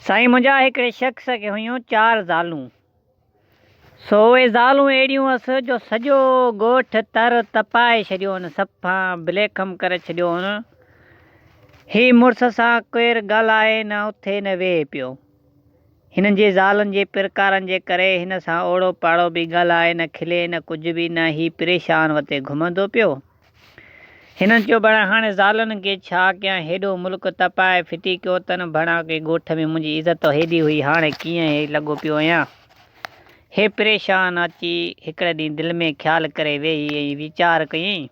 سائين منهنجا هڪڙي شخص کي هيون چار زالون سو اهي زالون اهڙيون هئس جو سڄو ڳوٺ تر تپائي ڇڏيو هن سفان بليخم ڪري ڇڏيو هن هي مڙس سان ڪير ڳالهائي نه اٿي نه ويهي پيو هنن جي زالن جي پرڪارن جي ڪري هن سان اوڙو پاڙو به ڳالهائي نه کلي نه ڪجهه به نه هي پريشان وتي گهمندو پيو هنن چيو بڙا هاڻي زالن کي ڇا ڪيان هيڏو ملڪ تپائي ڦٽي ڪيو تن بڙا ڪي ڳوٺ ۾ منهنجي عزت ته هيڏي هئي هاڻي ڪيئن هي لڳو پيو ايان هي پريشان اچي هڪڙي ڏينهن دل ۾ خيال ڪري ويهي ۽ ويچار ڪيئين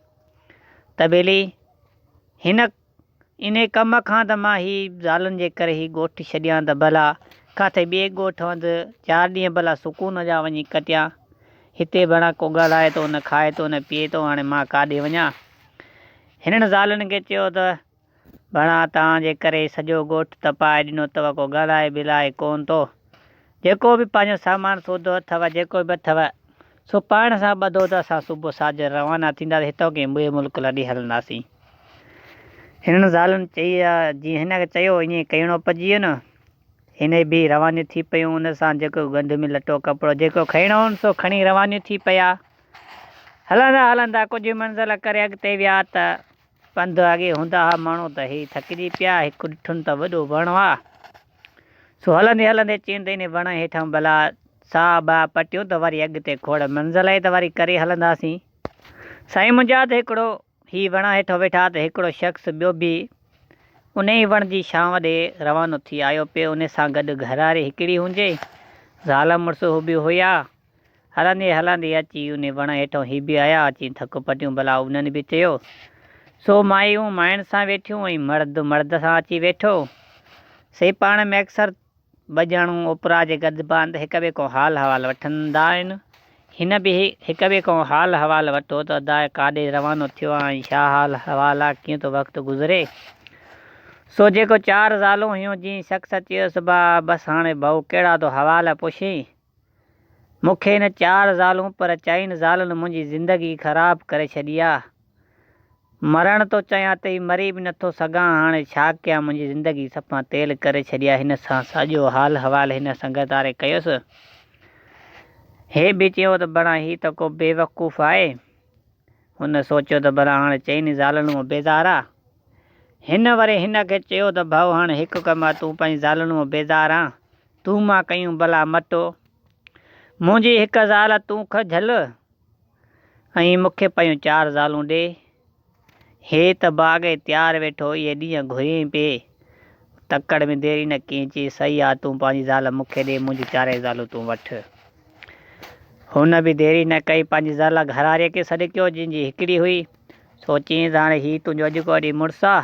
ته ڀيلي هن انهي ڪم کان ته مان هي زالن جي ڪري هي ڳوٺ ڇڏيان ته ڀلا ڪاٿي ٻئي ڳوٺ هنڌ چار ڏينهن ڀلا سڪون جا وڃي ڪٽيان. هتي ڀڻا ڪو ڳالهائي ٿو نه کائي ٿو نه پيئي ٿو هاڻي مان ڪاڏي وڃان. هنن زالن کي چيو ته ڀڻا توهان جي ڪري سڄو ڳوٺ تپائي ڏنو اٿو ڪو ڳالهائي ٻلهائي ڪونه ٿو. جيڪو به پنهنجو سامان سودو اٿو جيڪو به اٿو سو پاڻ سان ٻڌو ته اسان صبح ساجهر روانا ٿينداسين هتان ڪنهن ٻئي ملڪ لڏي هلنداسين. هنن زالن چئي ها جيئن هن کي چيو هو ائين ڪيڻو پئجي ويو نه. هن ئي بيهي روانيون ٿي پيون ان سان جيڪو گند ۾ لٽو ڪپڙو جيڪو کڻڻو هون سو کڻي روانيون ٿي پيا. هلندا هلندا ڪجهه منزل ڪري اڳتي ويا ته پنڌ اڳي هوندا ها مڻو ته هي ٿڪجي پيا، هڪ ڏٺن ته وڏو وڻ هئا، سو هلندي هلندي چين ته انهي وڻ هيٺان ڀلا ساهه باهه پٽيون ته وري اڳتي کوڙ منزل آهي ته وري ڪري هلنداسين. سائين منهنجا ته هڪڙو هي وڻ هيٺان ويٺا ته هڪڙو شخص ٻيو به انهي وڻ جي ڇانو ڏي روانو ٿي آيو پي انهي سان گڏ گهراري هڪڙي هنجي زال مڙس هو به هيا، هلندي هلندي اچي انهي وڻ هيٺئون هي به آيا اچي ٿڪ پٽيون ڀلا انهن به چيو سو مايون ماين سان ويٺيون ۽ مرد مرد سان اچي ويٺو سي پاڻ ۾ اڪثر ٻجهڻون اوپرا جي گڏ باند هڪ ٻئي کان حال حوال وٺندا آهن هن به هڪ ٻئي کان حال حوال وٺو ته ادا ڪاڏي روانو ٿيو آ ۽ ڇا حال حوال آ ڪيئن ٿو وقت گذري سو جيڪو چار زالون هيون جنهن شخص چيو سبا بس هاڻي ڀائو ڪهڙا ٿو حوال پڇين. مون کي نه چار زالون پر چئن زالن منهنجي زندگي خراب ڪري ڇڏي آ. مرڻ ٿو چاهيان تي مري به نٿو سگهان هاڻي ڇا ڪيان منهنجي زندگي صفا تيل ڪري ڇڏي آ هن سان ساڄو حال احوال هن سنگت واري ڪيس هي به چيو ته بران هي ته ڪو بيوقوف آهي هن سوچيو ته بران هاڻي چئن زالن مان بيزار آ هن وري هن کي چيو ته ڀائو هاڻي هڪ ڪم آ تون پنهنجي زالن مان بيزار آ تون مان ڪيون بلا مٽو. منهنجي هڪ زال تون که جهل ۽ مون کي پيون چار زالون ڏي. هي ته باغ ۽ تيار ويٺو اهي ڏينهن گهريئين پئي. تڪڙ ۾ دير ئي نه ڪيئين چيس سئي آ تون پنهنجي زال مون کي ڏي منهنجون چارئي زالون تون وٺ. هن به دير ئي نه ڪئي پنهنجي زال گهراريء کي سڏ ڪيو جنهن جي هڪڙي هئي. سو چيس هاڻي هي تنهنجو اڄ کان وڏي مڙس آ.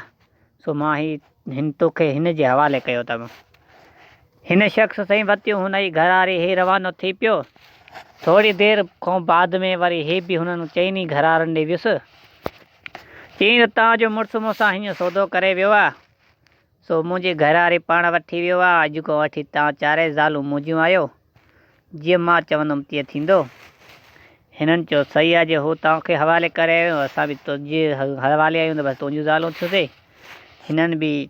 سو مان هي هن توکي هن جي حوالي ڪيو اٿم. هن شخص سين وتيون هن ئي گهر آري هي روانو ٿي پيو. ٿوري دير کون بعد ۾ وري هي به هنن چئن ئي گهر آرن ڏي ويس. چيائين ته توهان جو مڙس مون سان هيئن سودو ڪري ويو آ. سو منهنجي گهر آري پاڻ وٺي ويو آ. اڄ کون وٺي توهان چارئي زالون منهنجيون آهيو. جيئن مان چوندم تيئن ٿيندو. هنن چيو، صحيح آهي، جي هو توهان کي حوالي ڪري آيو آهيون، اسان به تنهنجي حوالي آهيون ته بس تنهنجون زالون ٿيون سي. هنن به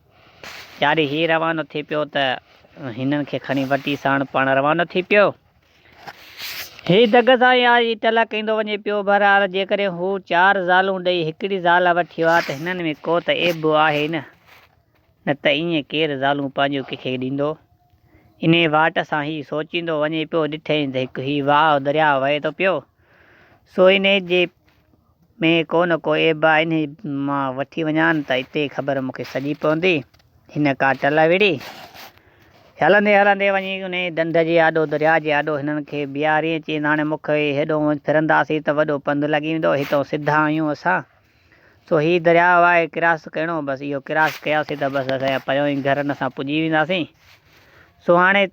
چاري هي روانو ٿي پيو ته هنن کي کڻي وٽي ساڻ پاڻ روانو ٿي پيو. هي دڳ سان ئي آج ٽلا ڪيندو وڃي پيو. بهرحال جيڪڏهن هو چار زالون ڏئي هڪڙي زال وٺي ها ته هنن ۾ ڪو ته عيب به آهي نه. نه ته ائين ڪير زالون پنهنجيون ڪنهن کي ڏيندو. انهيء واٽ سان هي سوچيندو وڃي پيو، ڏٺئين ته هڪ هي واهه درياء وهي ٿو پيو، سو انهيء جي ۾ ڪو نه ڪو عيب آهي، انهيء مان وٺي وڃان ته اتي خبر مون کي سڄي پوندي. هن ڪا ٽل وڙهي. هلندي هلندي وڃي انهيء ڍنڍ جي آڏو، درياء جي آڏو هنن کي بيهاريئين، چيائين ته هاڻي مک هيڏهون ڦرنداسين ته وڏو پنڌ لڳي ويندو، هتئون سڌا آهيون اسان. سو هي درياء آهي ڪراس ڪرڻو بس اهو ڪراس ڪياسين ته بس اسان جا پريون ئي گهرن اسان پڄي وينداسين سو هاڻي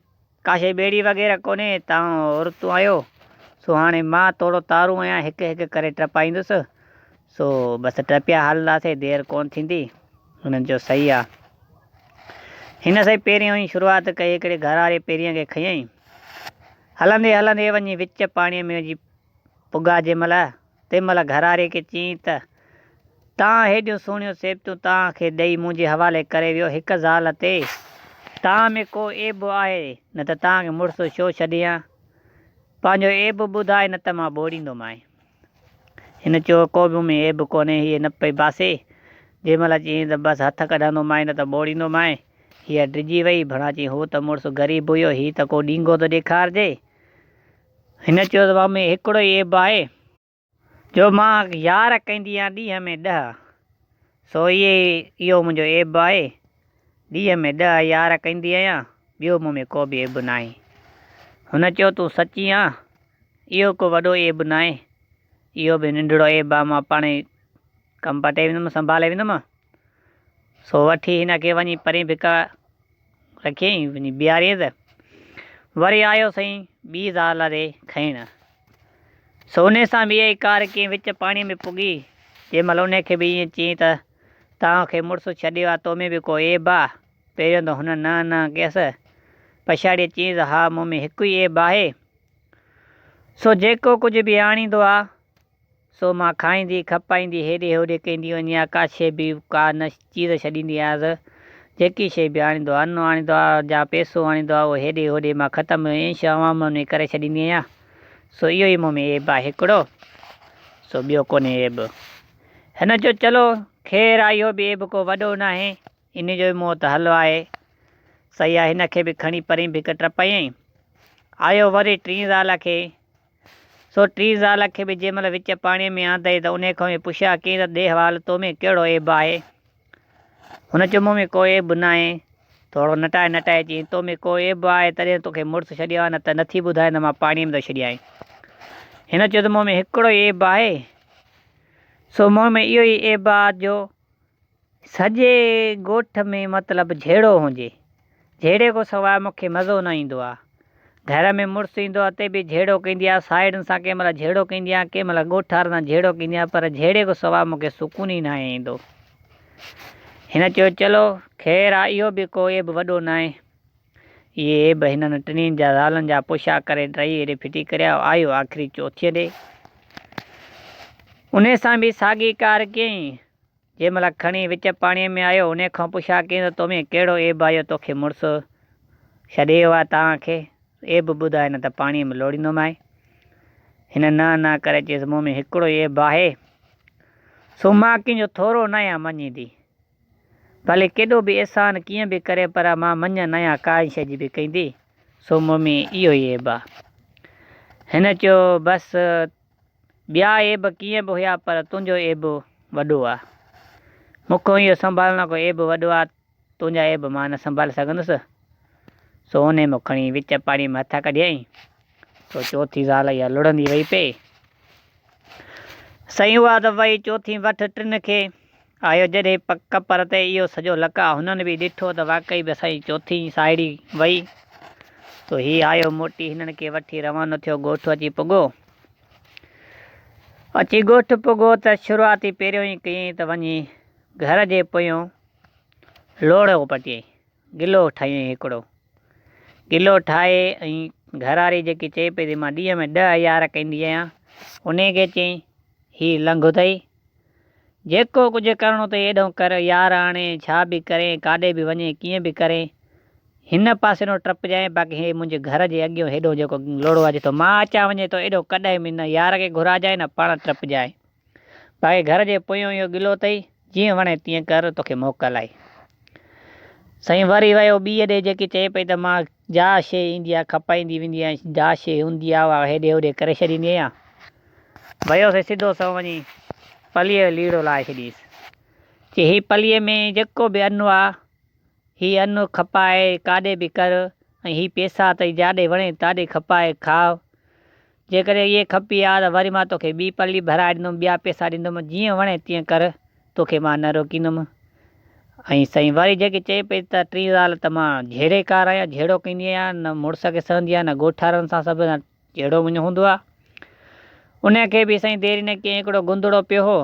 ڪاشي ٻيڙي وغيره ڪونهي تون عورتون آهيو سو هاڻي مان توڙو تارون آهيان هڪ هڪ ڪري ٽپائيندس سو بس ٽپيا هلنداسين دير ڪون ٿيندي هنن چيو صحيح آ هن سائين پهريون ئي شروعات ڪئي هڪڙي گهر واري پهريان کي کنيائين هلندي هلندي وڃي وچ پاڻي ۾ وڃي پگا جنهن مهل تنهن مهل گهراري کي چيائين ته، تان هيڏيون سهڻيون سيبتون تان کي ڏئي منهنجي حوالي ڪري ويو، هڪ زال تي تان ۾ ڪو عيب به آهي، نه ته تان کي مڙس ڇو ڇڏي هان؟ پنهنجو عيب ٻڌاء نه ته مان ٻوڙيندو مانء. هن چيو، ڪو به مون ۾ عيب ڪونهي. هيء نه پئي باسي. جنهن مهل چيائين ته، بس هٿ ڪڍندو مانء نه ته ٻوڙيندو مانء، هيء ڊڄي وئي. ڀڻا چيائين، هو ته مڙس غريب هيو، هي ته ڪو ڏينگهو ٿو ڏيکارجي. هن چيو ته واهه ۾ هڪڙو ئي عيب آهي جو مان يار ڪيندي آهيان ڏينهن ۾ ڏهه سو اهي اهو منهنجو عيب آهي ڏينهن ۾ ڏهه يار ڪيندي آهيان ٻيو مون ۾ ڪوبه عيب ناهي هن چيو تون سچي آن اهو ڪو وڏو عيب ناهي اهو به ننڍڙو عيب آهي مان پاڻهي ڪم پٽي ويندم سنڀالي ويندم سو وٺي هن کي وڃي پرين ڀڪ رکيئي وڃي بيهاريئي ته وري آيو سائين ٻي زال ري کڻڻ. سو انهي سان به اهي ڪار ڪنهن وچ پاڻي ۾ پڳي، جنهن مهل انهي کي به ائين چيائين ته توهان کي مڙس ڇڏيو آ تو ۾ به ڪو عيب آ؟ پهريون ته هن نه نه ڪيس، پڇاڙيء چيائين ته ها مون ۾ هڪ ئي عيب آهي، سو جيڪو ڪجهه به آڻيندو آ، سو مان کائيندي، کپائيندي، هيڏي هوڏي ڪيندي وڃي ها ڪا شيء به ڪا نه چيز ڇڏيندي آهيانس. جيڪي شيء به آڻيندو آهي، انو آڻيندو آهي يا پئسو آڻيندو آهي اهو هيڏي هوڏي مان ختم ائين شوامون ۾ ڪري ڇڏيندي آهيان. سو اهو ئي مون ۾ عيب آهي هڪڙو. سو ٻيو ڪونهي عيب. هن چيو چلو خير آهي اهو به عيب ڪو وڏو ناهي. انهيء جو به مون وٽ حل آهي. سياح هن کي به کڻي پرين به هڪ ٽپايائين. آيو وري ٽين زال کي سو ٽي زال کي به جنهن مهل وچ پاڻيء ۾ آندئي ته انهيء کان به پڇيا ڪيئي ته ڏيهه وال تو ۾ ڪهڙو عيب آهي؟ هن چيو مون ۾ ڪو عيب ناهي. ٿورو نٽائي نٽائي چيائين تو ۾ ڪو عيب آهي تڏهن تو کي مڙس ڇڏيو آهي نه ته نه ٿي ٻڌائين ته مان پاڻيء ۾ ٿو ڇڏيانء. هن چيو ته مون ۾ هڪڙو ئي عيب آهي سو مون ۾ اهو ئي عيب آهي جو سڄي ڳوٺ ۾ مطلب جهيڙو هونجي جهيڙي کان سواء مون کي مزو نه ايندو آ. گهر ۾ مڙس ايندو آ تي به جهيڙو ڪيندي آ ساهيڙين سان ڪنهن مهل جهيڙو ڪيندي آ ڪنهن مهل ڳوٺ وارن سان جهيڙو ڪيندي آ پر جهيڙي کان سواء مون کي سڪون ئي ناهي ايندو. هن چيو چلو خير آ اهو به ڪو عيب وڏو ناهي. اهي عيب هنن ٽنهين جا زالن جا پوشاڪ ڪري ٽئي ايڏي ڦٽي ڪريا آيو آخري چوٿين ڏي انهي سان به ساڳي ڪار ڪيائين. جنهن مهل کڻي وچ پاڻيء ۾ آيو، انهيء کان پڇا ڪيائين ته تو ۾ ڪهڙو عيب آيو توکي مڙس ڇڏي ويو آهي، تان کي عيب ٻڌاء نه ته پاڻيء ۾ لوڙيندومانء. هن نه نه ڪري چيس مون ۾ هڪڙو ئي عيب آهي، سو مان ڪنهن جو ٿورو ناهيان مڃيندي. ڀلي ڪيڏو به احسان ڪيئن به ڪري پر مان مڃ ناهيان ڪانئن شيء جي به ڪندي، سو مون ۾ اهو ئي عيب آهي. هن چيو بس ٻيا عيب ڪيئن به هيا پر تنهنجو عيب وڏو آ. مون کان اهو سنڀالڻ ڪو عيب وڏو آ، تنهنجا عيب مان نه سنڀالي سگهندس. سو هونئن مون کڻي وچ پاڻي مان هٿ ڪڍيائين. سو چوٿين زال اها لڙهندي وئي پئي. سائين اها ته وئي چوٿين وٺ ٽن کي. آيو جڏهن پڪ پر تي اهو سڄو لڪ آ هنن به ڏٺو ته واقعي به اسان جي چوٿين ساهيڙي وئي تو هي آيو موٽي هنن کي وٺي روانو ٿيو ڳوٺ اچي پڳو اچي ڳوٺ پڳو ته شروعاتي پهريون ئي ڪيئين ته وڃي گهر جي پويون لوڙهو پٽيئين گلو ٺاهيئين هڪڙو گلو ٺاهي ۽ گهرواري جيڪي چئي پئي ته مان ڏينهن ۾ ڏهه هيار ڪندي آهيان انهي کي چئين هي لنگهه اٿئي جيڪو ڪجهه ڪرڻو اٿئي ايڏهو ڪر، يار آڻي ڇا به ڪرين، ڪاڏي به وڃين، ڪيئن به ڪرين، هن پاسي نو ٽپجانء، باقي هي منهنجي گهر جي اڳيون هيڏهون جيڪو لوڙهو آجي ٿو، مان اچان وڃي ٿو، ايڏهو ڪڏهن به نه يار کي گهراجانء نه پاڻ ٽپجانء، باقي گهر جي پويون اهو گلو اٿئي، جيئن وڻي تيئن ڪر، توکي موڪل آهي. سائين وري ويو ٻيء ڏي جيڪي چئي پئي ته مان جا شيء ايندي آ، کپائيندي ويندي آهيان، جا شيء هوندي آ، اها هيڏي هوڏي ڪري ڇڏيندي آهيان، ويو سي سڌو سنئون وڃي پليء جو ليڙو لاهي ڇڏيس. چي هي پليء ۾ جيڪو به انو آ، هي انو کپائي ڪاڏي به ڪر ۽ هي پيسا اٿئي جاڏي وڻي تاڏي کپائي کاء. جيڪڏهن اهي کپي ها ته وري مان توکي ٻي پلي ڀرائي ڏيندم، ٻيا پيسا ڏيندم، جيئن وڻي تيئن ڪر، توکي مان نه روڪيندم. ۽ سائين واري جيڪي چئي پئي ته ٽين زال ته مان جهيڙيڪار آهيان، جهيڙو ڪندي آهيان، نه مڙس کي سهندي آهيان، نه ڳوٺارن سان سڀ، نه. جهڙو مڃ هوندو آ. انهيء کي به سائين ديري نه ڪيائين هڪڙو گندڙو پيو هو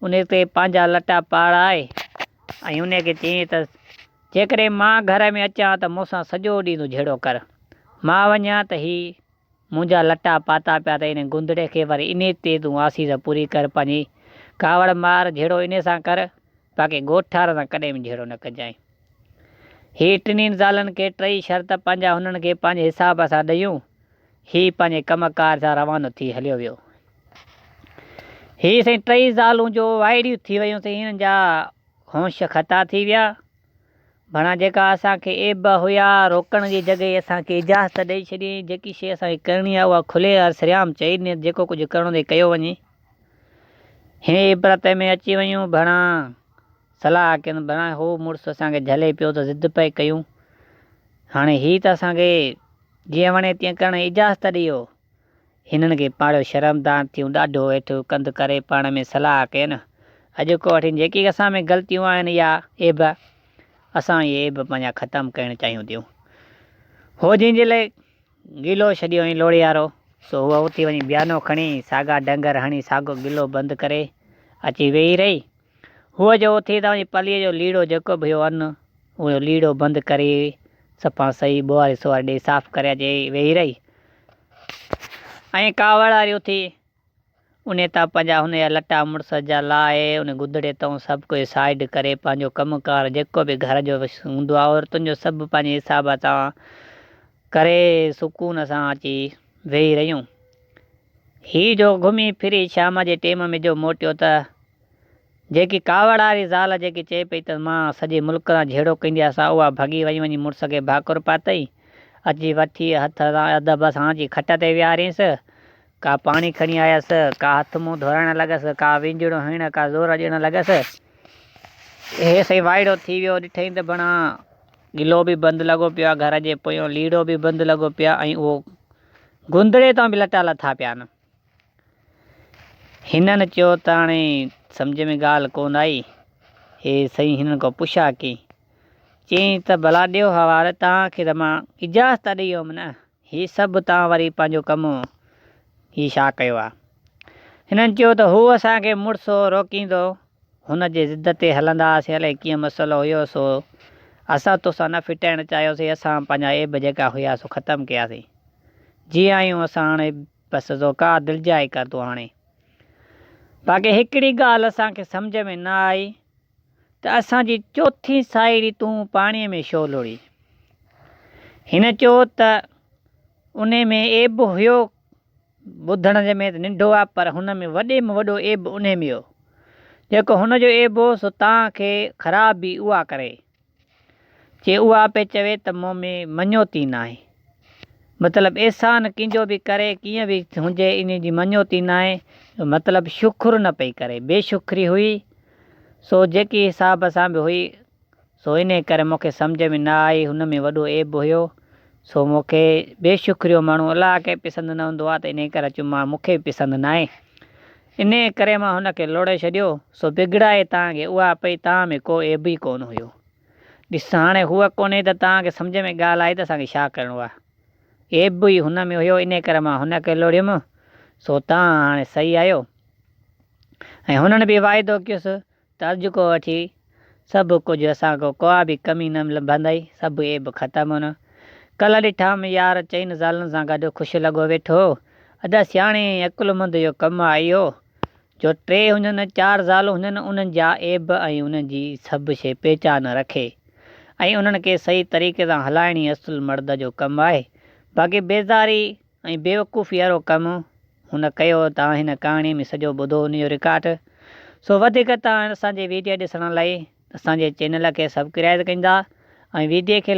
ان تي پنهنجا لٽا پاڙائي ۽ انهيء کي چيائين ته جيڪڏهن مان گهر ۾ اچان ته مون سان سڄو ڏينهن تون جهيڙو ڪر مان وڃان ته هي منهنجا لٽا پاتا پيا اٿئي انهي گندڙي کي وري انهي تي تون آسيز پوري ڪر پنهنجي ڪاوڙ مار جهيڙو انهي سان ڪر باقي ڳوٺارن سان ڪڏهن به جهيڙو نه ڪجانء. هي ٽنهين زالن کي ٽئي شرط پنهنجا هنن کي پنهنجي حساب سان ڏيون. هي پنهنجي ڪم ڪار سان روانو ٿي هليو ويو. هي سائين ٽئي زالون جو وائڙيون ٿي ويون سائين هنن جا هونش خطا ٿي ويا. ڀڻا جيڪا اسان کي عيب هيا روڪڻ جي جڳهي اسان کي اجازت ڏئي ڇڏيائين جيڪي شيء اسان کي ڪرڻي آهي اها کلي ۽ سرعام چئي ڏني ته جيڪو ڪجهه ڪرڻو اٿئي ڪيو وڃي. هي عبرت ۾ اچي ويون ڀڻا. صلاح ڪين بنان هو مڙس اسان کي جهلي پيو ته ضد پئي ڪيون. هاڻي هي ته اسان کي جيئن وڻي تيئن ڪرڻ جي اجازت ڏيو. هنن کي پاڙيو شرمدار ٿيون ڏاڍو هيٺ ڪنڌ ڪري پاڻ ۾ صلاح ڪين اڄوڪو وٺين جيڪي اسان ۾ غلطيون آهن يا عيب اسان اهي عيب پنهنجا ختم ڪرڻ چاهيون ٿيون. هو جنهن جي لاء گلو ڇڏيو هئين لوڙيارو سو هوء اٿي وڃي بيانو کڻي ساڳا ڊنگر هڻي ساڳو گلو بند ڪري اچي ويهي رهي. هو جو اٿي توهان جي پليء جو ليڙو جيڪو به هيو ان اهو ليڙو بند ڪري سپان سهي ٻوهاري سواري ڏيئي صاف ڪري اچي ويهي رهي ۽ ڪاوڙ واري اٿي انهي تان پنهنجا هن جا لٽا مڙس جا لاهي انهي گدڙي تان سڀ ڪجهه سائيڊ ڪري پنهنجو ڪم ڪار جيڪو به گهر جو هوندو آهي عورتن جو سڀ پنهنجي حساب تان ڪري سڪون سان اچي ويهي رهيون هي جو گهمي ڦري شام جي ٽيم ۾ جو موٽيو ته جيڪي ڪاوڙ واري زال جيڪي چئي پئي ته مان سڄي ملڪ سان جهيڙو ڪندي آسان اها ڀڳي وڃي وڃي مڙس کي ڀاڪر پاتئي. اچي وٺي هٿ سان ادب سان اچي کٽ تي ويهارينس. ڪا پاڻي کڻي آيس، ڪا هٿ منهن ڌوئائڻ لڳس، ڪا وينجهڙو هڻڻ ڪا زور ڏيڻ لڳس. هي سائين وائڙو ٿي ويو ڏٺئين ته بڻا گلو به بند لڳو پيو آ، گهر جي پويون ليڙو به بند لڳو پيو آ ۽ اهو گندڙي تان به لٽا لٿا پيا آهن. هنن چيو ته هاڻي سمجهه ۾ ڳالهه ڪونه آئي. هي سائين هنن کان پڇا ڪئي. چيائين ته ڀلا ڏيو حوالي توهان کي ته مان اجازت ته ڏئي هوم نه. هي سڀ توهان وري پنهنجو ڪم هي ڇا ڪيو آهي. هنن چيو ته هو اسان کي مڙس هو روڪيندو هن جي ضد تي هلندا هئاسين الائي ڪيئن مسئلو هيو سو اسان توسان نه ڦٽائڻ چاهيوسين اسان پنهنجا عيب جيڪا هيا سو ختم ڪياسين جي آهيون اسان هاڻي بس سو ڪا دلجائي ڪر تون هاڻي باقي هڪڙي ڳالهه اسان کي سمجهه ۾ نه آئي ته اسان جي چوٿين ساهيڙي تون پاڻي ۾ شو لڙي هن چيو ته انهي ۾ عيب هيو ٻڌڻ جي ۾ ته ننڍو آ پر هن ۾ وڏي ۾ وڏو عيب انهي ۾ هو جيڪو هن جو عيب هو سو تان کي خراب به اها ڪري چي اها پي چوي ته مون ۾ مڃوتي ناهي مطلب احسان ڪينجو به ڪري ڪيئن به هنجي انهي جي مڃوتي ناهي جو مطلب شڪر نه پئي ڪري بي شڪري هئي سو جيڪي حساب سان به هئي سو انهيء ڪري مون کي سمجهه ۾ نه آئي، هن ۾ وڏو عيب هيو، سو مون کي بي شڪريو ماڻهو الاهه کي پسند نه هوندو آهي ته انهيء ڪري اچيو ماڻهو مون کي به پسند ناهي، انهيء ڪري مان هن کي لوڙهي ڇڏيو، سو بگڙائي تان کي اها پئي تان ۾ ڪو عيب ئي ڪونه هيو. ڏس هاڻي هوء ڪونهي ته تان کي سمجهه ۾ ڳالهه آئي ته اسان کي ڇا ڪرڻو آهي، عيب به ئي هن ۾ هيو، انهيء ڪري مان هن کي لوڙهيم، سو تان هاڻي سهي آهيو. ۽ هنن به واعدو ڪيس ترج ڪو وٺي سڀ ڪجھ اسان ڪو ڪا به ڪمي نه لڀندئي سڀ عيب ختم هن ڪلھ ڏٺام يار چئن زالن سان گڏ خوش لڳو ويٺو ادا سياڻي ۽ عقلمند جو ڪم آ اهو جو ٽي هجن چار زالون هجن انهن جا عيب ۽ انهن جي سڀ شي پهچان رکي ۽ انهن کي صحيح طريقي سان هلائڻي اصل مرد جو ڪم آهي باقي بيزاري ۽ بيوقوفي وارو ڪم هن ڪيو توهان هن ڪهاڻي ۾ سڄو ٻڌو ان جو رڪارڊ سو وڌيڪ توهان اسان جي ويڊيا ڏسڻ لئي اسان جي چينل کي سبڪرائيز ڪندا ۽ ويڊيو کي